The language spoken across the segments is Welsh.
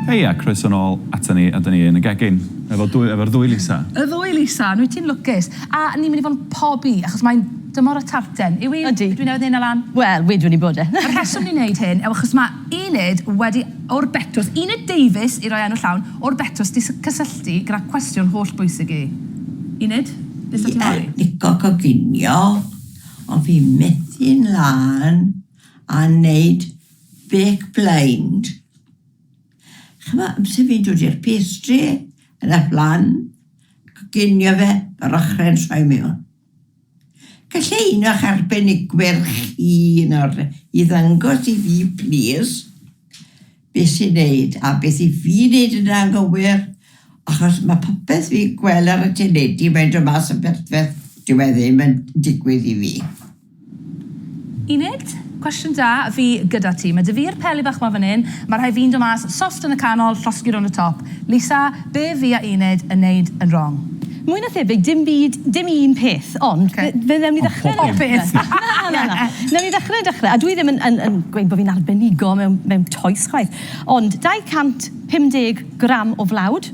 Hei a croeso nôl ata ni a 'da ni yn y gegin efo dwy efo'r ddwy Lisa. Y ddwy Lisa, nwyt ti'n lwcus. A ni'n mynd i fod yn pobi achos mae'n dymor y tarten. Yw 'i? Ydi. Dwi newydd neud 'na lan. Wel, wedwn i bod e. Y rheswm ni'n neud hyn yw achos ma' Enid wedi o'r betws, Enid Davies i roi enw llawn, o'r betws 'di cysylltu gyda cwestiwn holl bwysig i Enid. Dwi ar bigo goginio ond fi methu'n lân a neud bake blind. Ch'mo' amser fi'n dod i'r pastry yn y flan, coginio fe yr ochrau yn troi mewn. Gallai un o'ch arbenigwyr chi nawr i ddangos i fi plîs? beth sy'n neud a beth i fi neud yn anghywir achos ma popeth fi'n gwel ar y teledu mae'n dod mas yn perffeth dyw e ddim yn digwydd i fi. Enid, cwestiwn da, fi gyda ti. Mae 'da fi'r peli bach 'ma fan 'yn, mae rhai fi'n dod mas soft yn y canol, llosgi rownd y top. Lisa, be fi a Enid yn neud yn wrong? Mwy na thebyg, dim byd, dim un peth, ond fe fe wnewn ni ddechre... Ond pob peth! Na, na, na, na. Wnewn ni ddechre dechre, a dwi ddim yn yn yn gweud bo' fi'n arbenigo mewn mewn toes chwaith, ond 250 gram o flawd,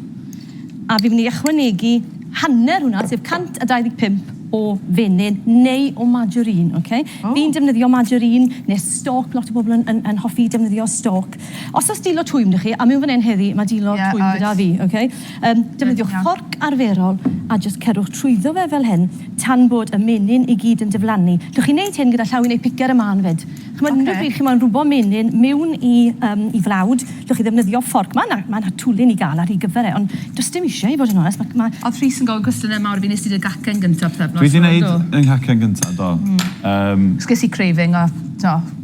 a fi'n myn' i ychwanegu hanner hwnna, sef 125 o fenyn neu o margarine, ok? O! Fi'n defnyddio margarine ne' stoc, lot o bobl yn yn yn hoffi defnyddio stoc. Os o's dilo twym 'da chi, a miwn fan 'yn heddi, ma' dilo... Ie, oes. ...twym gyda fi, ok? Yym, defnyddiwch fforc arferol a jyst cerwch trwyddo fe fel hyn tan bod y menyn i gyd yn diflannu. Gewch chi wneud hyn gyda llaw i wneud picer y mân 'fyd. Ch'mod unrhyw bryd chi moyn rhwbo menyn miwn i yym i flawd, gewch chi ddefnyddio fforc. Ma' 'na ma' 'na twli ni ga'l ar hir gyfer e, ond does dim isie i fod yn onest, ma' ma'... Odd Rhys yn gofyn cwestiyne mawr i fi, nest ti dy gacen gynta pythefnos 'ma do? Dwi 'di neud 'yn nghacen gynta do, yym... 'Chos ges i craving a t'o'.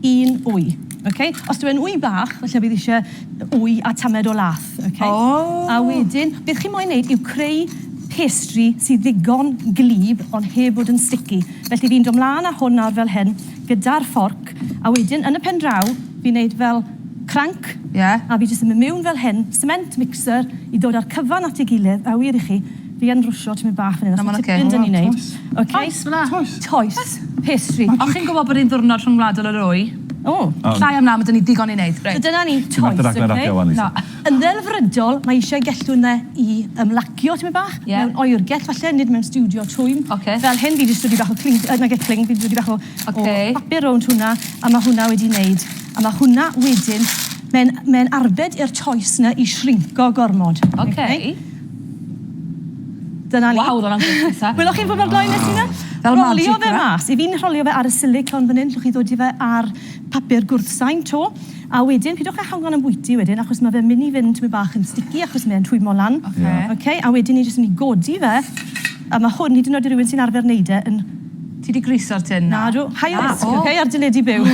Un wy. Ok? Os dyw e'n wy bach, falle bydd eisiau wy a tamed o lath. Ok? O! A wedyn, beth chi'n moyn wneud yw creu pastry sydd ddigon gwlyb ond heb fod yn sticky. Felly fi'n dod mlaen â hwn nawr fel hyn gyda'r fforc a wedyn yn y pen draw fi'n wneud fel cranc... Ie. ...a fi jyst yn mynd miwn fel hyn, cement mixer, i ddod â'r cyfan at ei gilydd, a wir i chi, Fi yn rwsio tymyn bach fan hyn os ti'n ffeind â ni neud. Toes fela. Toes. Pastry. O chi'n gwybod bod e'n ddiwrnod rhyngwladol yr wy? O! Llai am law ma' da ni ddigon i neud. Reit. So dyna ni. Toes. Ti methu rhaglen radio wan Lisa. Na. Yn ddelfrydol mae eisiau gellw ynddo i ymlacio tymyn bach. Ie. Mewn oergell falle nid mewn stiwdio twym. Ocê. Fel hyn fi 'di dysgu dipyn bach o cling yy nage cling fi 'di dysgu bach o... Ocê. ...o bapur rownd hwnna a ma' hwnna wedi neud a ma' hwnna wedyn mae'n mae'n arbed i'r toes 'na i shrinco gormod. Ocê. Oce? Dyna ni. Waw, hwnna'n gwych, Isa. Wyddoch chi'n fwy mor gloi nes i na? Fel magic, ie? Rholio fe mas. I fi ni'n rholio fe ar y silicone fan 'yn, allwch chi ddod i fe ar papur gwrthsain 'to, a wedyn pidwch â hanfon am bwyty wedyn achos ma' fe'n myn' i fynd tipyn bach yn sticky achos mae e'n rhwymo lan. Oce. Oce, a wedyn ni jyst myn' i godi fe, a ma' hwn, hyd yn oed i rywun sy'n arfer neud e, yn... Ti 'di griso'r tin 'na. Nadw. High risk. Na, o! Oce, ar deledu byw.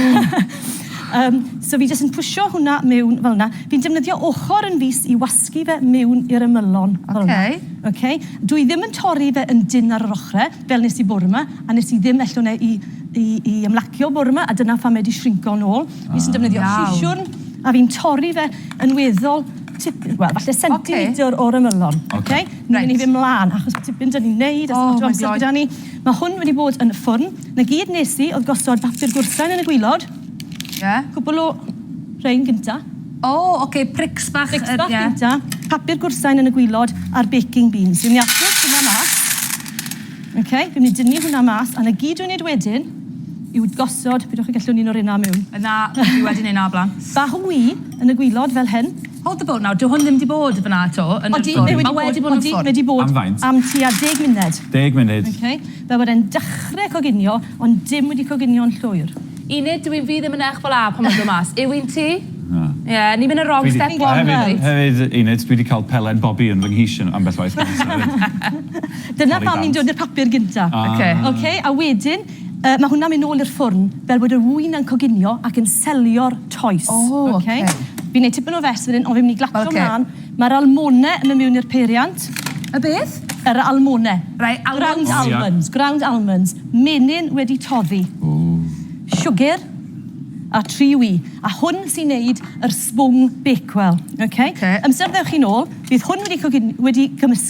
Yym, so fi jyst yn pwsio hwnna miwn fel 'na. Fi'n defnyddio ochor yn fis i wasgu dysgu fe miwn i'r ymylon fel 'na. Ok. Ok? Dwi ddim yn torri fe yn dynn ar yr ochre, fel nes i bore 'ma, a nes i ddim ellwn e i i i ymlacio bore 'ma, a dyna pham mae 'di shrinco nôl. Ah. Fi jyst yn defnyddio... Iawn. ...siswrn, a fi'n torri fe yn weddol tipyn, wel, falle centimetr... Ok. ...o'r ymylon. Ok. Ok? Reit. Ni myn' i fyn' mlan, achos ma' tipyn 'da ni'n neud... Oh my God. ...a sdim lot o amser gyda ni. Ma' hwn wedi bod yn y ffwrn. 'Na gyd nes i o'dd gosod papur gwrthsain yn y gwilod. Ie. Cwpwl o rhein gynta. O ok prics bach yy ie. Prics bach gynta. Papur gwrsain yn y gwilod a'r baking beans. Fi myn' i aros hwnna mas. Ok fi myn' i dynnu hwnna mas a 'na gyd dwi'n neud wedyn yw gosod, pidwch a gellwn un o reina miwn. Yy na, fi wedi neud 'na o bla'n. Bach o wy yn y gwilod fel hyn. Hold the boat nawr, dyw hwn ddim 'di bod fyn 'na 'to yn y ffwrn. Odi, mae wedi bod yn y ffwrn. Odi, mae wedi bod yn y ffwrn. Am faint? Am tua deg munud. Deg munud. Ok. Fe were yn dechre coginio ond dim wedi coginio yn llwyr. Enid, dw i fi ddim yn eich fel 'a pan mae'n dod mas. Yw un ti? Na. Ie, ni'n mynd yn wrong step one reit. Hefyd, hefyd Enid, dwi 'di cael pelen bobi yn fy nghis ambell waith gynta 'fyd. Dyna pam ni'n dod i'r papur gynta. Oce. Oce, a wedyn, yy, ma' hwnna'n mynd nôl i'r ffwrn fel bod yr ŵyn yn coginio ac yn selio'r toes. O, oce. Oce? Fi'n neud tipyn o fess fan 'yn on' fi myn' i glatsio mlan. Mae'r almone yn mynd mewn i'r peiriant. Y beth? Yr almone. Right, almonds. Ground almonds, ground almonds. Menyn wedi toddi. Ww. Siwgr a tri wy. A hwn sy'n neud yr sbwng Bakewell. Ok? Ok. Amser ddewch chi nôl, bydd hwn wedi cwgin- wedi cymysgu.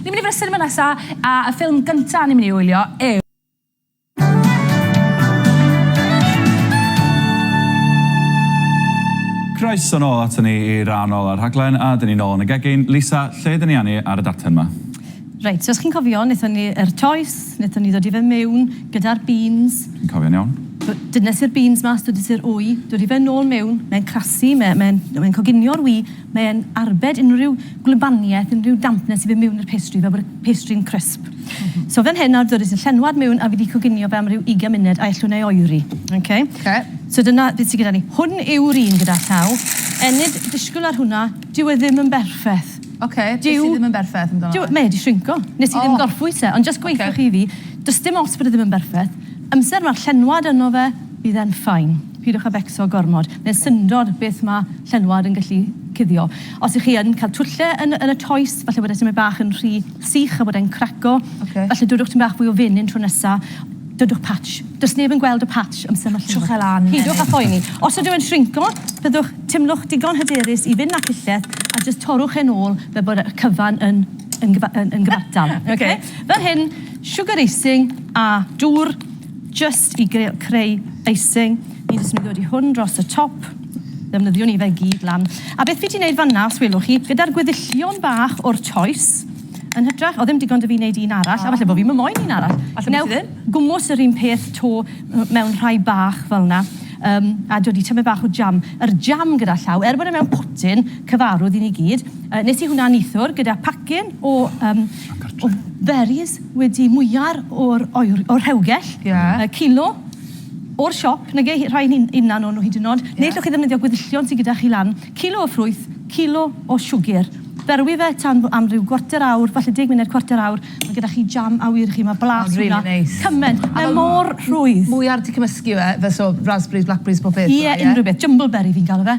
Ni'n mynd i fod yn y sinema nesa, a y ffilm gynta ni'n mynd i wylio yw. Croeso nôl aton ni i ran ola'r rhaglen, a 'dyn ni nôl yn y gegin. Lisa, lle 'dyn ni â ni ar y darllen 'ma? Reit, so os chi'n cofio, nethon ni yr toes, nethon ni ddod i fe miwn gyda'r beans. Fi'n cofio'n iawn. Do- dynesi'r beans mas, dwdesi'r wy, dod i fe nôl miwn, mae'n crasu, mae e, mae e'n, mae e'n coginio'r wy, Mae e'n arbed unrhyw gwlybaniaeth, unrhyw dampness sydd mewn i'r pastry fel bod y pastry'n crisp. So fan hyn nawr dywedais y llenwad mewn a fi wedi coginio fe am ryw 20 munud a ellwn ei oeri. Ok? Ok. So dyna beth sydd gyda ni. Hwn yw'r un gyda llaw. Enid, disgwyl ar hwnna, dyw e ddim yn berffaith. Ok, beth sydd ddim yn berffaith amdano fe? Dyw, mae e 'di shrinco. Nes i ddim gorffwys e, ond jyst gweithiwch i fi, does dim ots bod e ddim yn berffaith, amser ma'r llenwad yno fe, bydd e'n fine. Pidwch â becso gormod. neu'r syndod beth ma' llenwad yn gallu cuddio. Os ych chi yn cael twlle yn yn y toes, falle bod e tymed bach yn rhy sych a bod e'n craco. Ocê. Falle dodwch tymed bach fwy o fenyn tro nesa. Dodwch patch. Does neb yn gweld y patch amser ma' Twch e lan. Pidwch â phoeni. Os ydyw e'n shrinco, byddwch, timlwch digon hyderus i fyn' â chilleth a jyst torrwch e'n ôl fel bod y cyfan yn yn gyfa- yn yn gyfartal. Ocê. Ocê? Fel hyn, sugar icing a dŵr. Jyst i creu icing, ni'n jyst yn mynd i ddodi hwn dros y top, ddefnyddiwn ni fe gyd lan. A beth fi 'di wneud fan'na, os welwch chi, gyda'r gweddillion bach o'r choes, yn hytrach, o ddim digon 'da fi wneud un arall, a falle bo' fi'm yn moyn un arall. Falle bo' ti ddim. Wnewch gwmws yr un peth 'to mewn rhai bach fel 'na, yym, a dodi tymed bach o jam. Yr jam gyda llaw, er bod e mewn potyn cyfarwdd i ni gyd, yy, nes i hwnna neithiwr gyda pacyn o yym o berries. wedi mwyar o'r oer- o'r rhewgell. Ie. Yy cilo o'r siop, nage, hi- rhai hyn- hunan o'n nhw hyd yn o'd. Ie. Neu 'llwch chi ddefnyddio gweddillion sy gyda chi lan. Cilo o ffrwyth, cilo o siwgr. Berwi fe tan fo- am ryw gwarter awr, falle deg munud, cwarter awr, ma' gyda chi jam awyr i chi, ma' blas hwnna... Ma'n rili neis. ...cyment. Mae mor rhwydd. Mwyar 'di cymysgu yw e? Fel so, raspberries, blackberries, bob peth fel 'a, ie? Ie, unrhyw beth. Jumbleberry fi'n galw fe.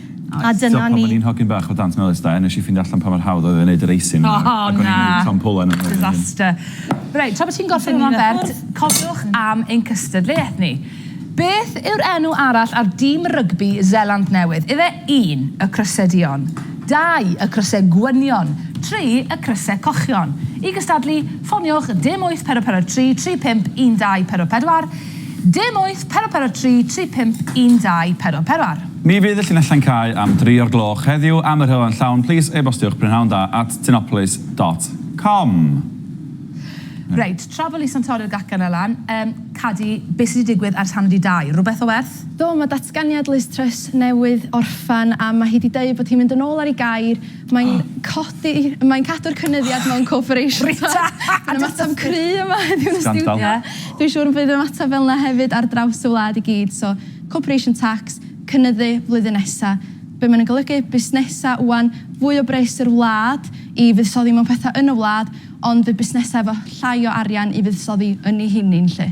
A dyna ni. Tibod pan o'n i'n hogyn bach o Dant Melys de, wnes i ffeindio allan pa mor hawdd oedd e i wneud y resin 'ma. O na! Ac o'n i'n mynd i Tom Pullen am hyn. Disaster. Reit, tra bod ti'n gorffen hwnna'n bert, cofiwch am ein cystadleuaeth ni. Beth yw'r enw arall ar dîm rygbi Seland Newydd? Ife un, y Crysau Duon, dau, y Crysau Gwynion, tri, y Crysau Cochion? I gystadlu, ffoniwch dim wyth pedwar pedwar tri tri pump un dau pedwar pedwar, Dim wyth, pero pero tri, tri pump, un dau, pero peroar. Mi fydd y llinellau'n cau am dri o'r gloch heddiw am yr hylau'n llawn plis e-bostiwch prynhawn da at tinopolis dot com. Reit, tra bo Lisa'n torri'r gacen 'na lan, yym, Cadi, be' sy' 'di digwydd ers hanner 'di dau? Rwbeth o werth? Do, ma' datganiad Liz Truss newydd orffen a ma' hi 'di deud bod hi'n mynd yn ôl ar ei gair Mae'n codi... Mae'n cadw'r cynulliad mewn corporation tax. Rita! Mae'n ymateb cry yma heddiw yn y stiwdio. Scandal. Dwi'n siŵr y bydd ymateb fel 'na hefyd ar draws y wlad i gyd. So, corporation tax, cynyddu flwyddyn nesa. Be' ma' 'na'n golygu? Busnesa ŵan, fwy o bres i'r wlad i fuddsoddi mewn petha yn y wlad, ond fydd busnesa efo llai o arian i fuddsoddi ynni heini 'lly.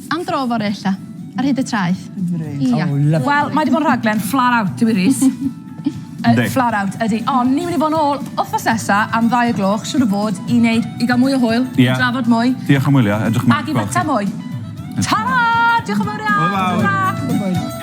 Am dro fory ella. Ar hyd y traeth. Ia. O lyfli. Wel mae 'di bod yn rhaglen flat out Dewi Rees. Yndi. Yy flat out ydi. Ond ni myn' i fo' nôl wthnos nesa am ddau o gloch siŵr o fod i neud i ga'l mwy o hwyl. Ia. I drafod mwy. Diolch am wylio edrych ymlaen at gweld chi. Ag i fita mwy. Tara! Diolch yn fowr iawn. Hwyl fawr. Tara. Hwyl.